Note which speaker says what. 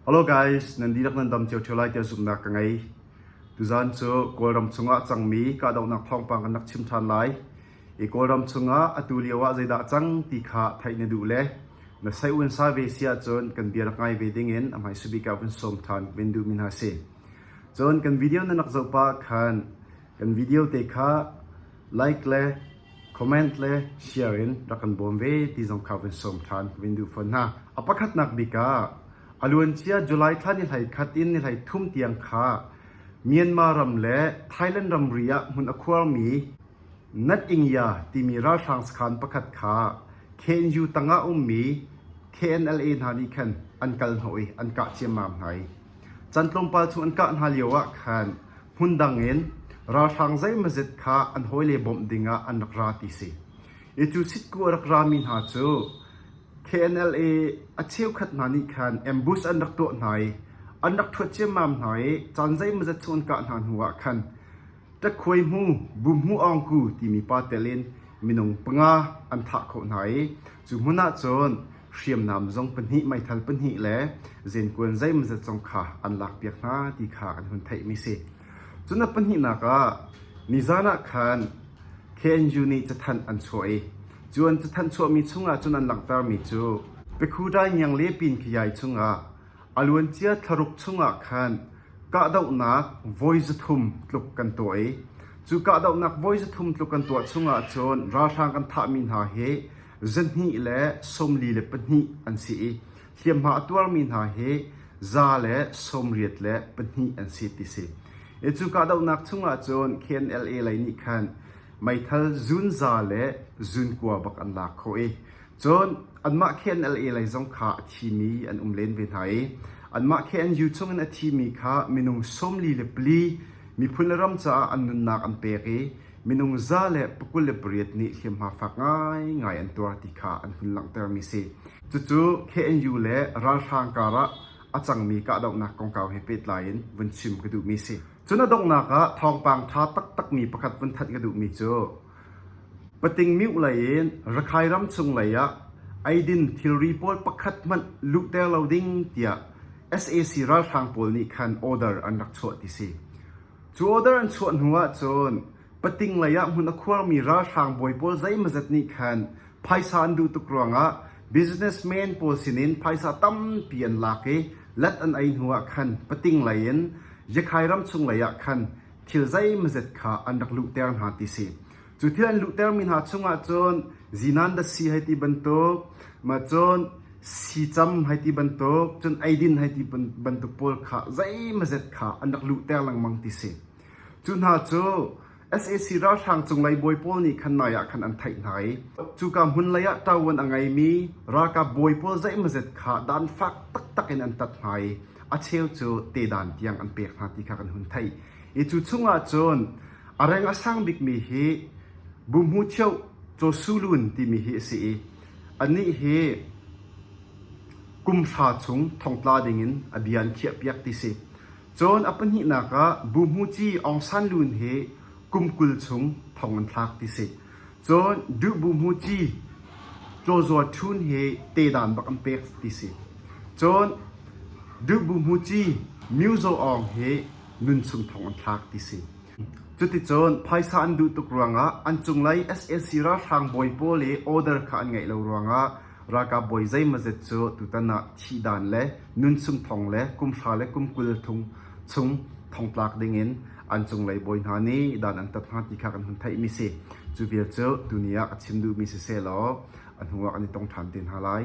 Speaker 1: Hello guys, nan dihlak nan dam cio ṭheo lai tiah zumhnak ka ngei. Tuzan cu Kawlram chungah cangmi kahdohnak thawngpang kan rak chim ṭhan lai. I Kawlram chungah atu lio ah zeidah cang ti kha theih na duh le na saiun sa ve si ahcun kan bia rak ngai ve dingin a hmai subik ah vun sawm ṭhan vin duhmi hna si. Cun kan video na nak zoh pah khan kan video te kha like le comment le share in rak kan bawm ve ti zong kha vun sawm ṭhan ka vun duh fawn hna. A pakhatnak bik ah a luancia July thla ni hlei khat in ni hlei thum tiang kha Myanmar ram le Thailand ramri ah hmun a khuarmi Natingya timi ralhrang sakhan pakhat kha KNU tangah a ummi KNLA hna nih khan an kal hnawh i an kah ciammam hna i, can tlawmpal chung an kah hna lioah khan hmun dangin ralhrang zeimazet kha an hawile bawmh dingah an rak ra ti si. I cu sitku a rak rami hna cu KNLA a cheukhat hna nih khan ambush an rak tuah hna i an rak thuat ciammam hna i caan zeimazet chung an kah hna hnuah khan Ṭakhuai hmu, Bum hmu Awngku timi pa telin minung panga an thah khawh hna i cu hmun ahcun hriamnam zong pahnih, meithal pahnih le zenkuan zeimazat zong kha an lakpiak hna ti kha kan hun theihmi si. Cun a pahnihnak ah nizan ah khan KNU nih cathanh an chuah i cun cathanh chuahmi chungah cun an langhtermi cu Pekhuda Ngiang le Pin Kayai chungah a luancia thlaruk chungah khan kahdohnak voi zathum tluk kan tuah i cu kahdohnak voi zathum tluk kan tuah chungah cun ralhrang kan thahmi hna hi Zahnih le sawmli le pahnih an si i hliamhma a tuarmi hna hi za le sawmriat le pahnih an si ti si. I cu kahdohnak chungah cun KNLA lei nih khan meithal zunza le zunkua bak an lak khawh i cun anmah KNLA lei zong kha a thimi an um len ve hna i anmah KNU chungin a thimi kha minung sawmli le pali miphun le ram caah an nunnak an pek i Minung za le pakul le pariat nih hliamhma fak ngaingai an tuar ti kha an hun langhtermi a si. Cucu KNU le ralhrang karah a cangmi kahdohnak kongkau he pehtlai in vun chim ka duhmi a si. Cun a donghnak ah thawngpang ṭha taktakmi pakhat vun thanh ka duhmi cu Patingmyuh lei in Rakhine ram chung lei ah eidin thilri pawl pakhat hmanh luhter lo ding tiah sac ralhrang pawl nih khan order an rak chuah ti si. Cu order an chuah hnu ahcun pating lei ah hmun a khuarmi ralhrang bawi pawl zeimawzat nih khan phaisa an duh tuk ruangah businessmen pawl sinin phaisa tampi an lak i let an ei hnu ah khan pating lei in Yakhai ramchung lei ah khan thil zeimawzat kha an rak luhter hna ti si. Cu thil an luhtermi hna chungah cun zinandasi hei ti bantuk, cun sicam hei ti bantuk, cun eidin hei ti bantuk pawl kha zeimazet kha an rak luhter lengmang ti si. Cu hna cu sac ralhrang cunglei bawi pawl nih khan nai ah khan an theih hna i cuka hmun lei ah ṭawon a ngeimi ralkap bawi pawl zeimazet kha dan fak taktak in an tat hna i a cheu cu tedan tiang an pek hna ti kha kan hun theih i cu chungah cun A reng a sang bikmi hi Buhmu Thioh Cawsulun timi hi a si i anih hi kum hra chung thongtla dingin a bia an khiahpiak ti si. Cun a pahnihnak ah Buhmu Ci Aung San Lun hi kum kul chung thong an thlak ti si. Cun Duh Buhmu Ci Caw Zual Ṭhun hi tedan bak an pek ti si. Cun Duh Buhmu Ci Myo Zaw Aung hi nunchung thong an thlak ti si. Cuticun phaisa an duh tuk ruangah an cunglei sac ralhrang bawi pawl i order kha an ngeih lo ruangah ralkap bawi zeimazet cu tutan ah thihdan le nunchung thong le kumhra le kumkul thung chung thongtlak dingin an cunglei bawi hna nih dan an tat hna ti kha kan hun theihmi si. Cu vial cu tuni ah ka chim duhmi si sehlaw a hnuah kan i tong ṭhan te hna lai.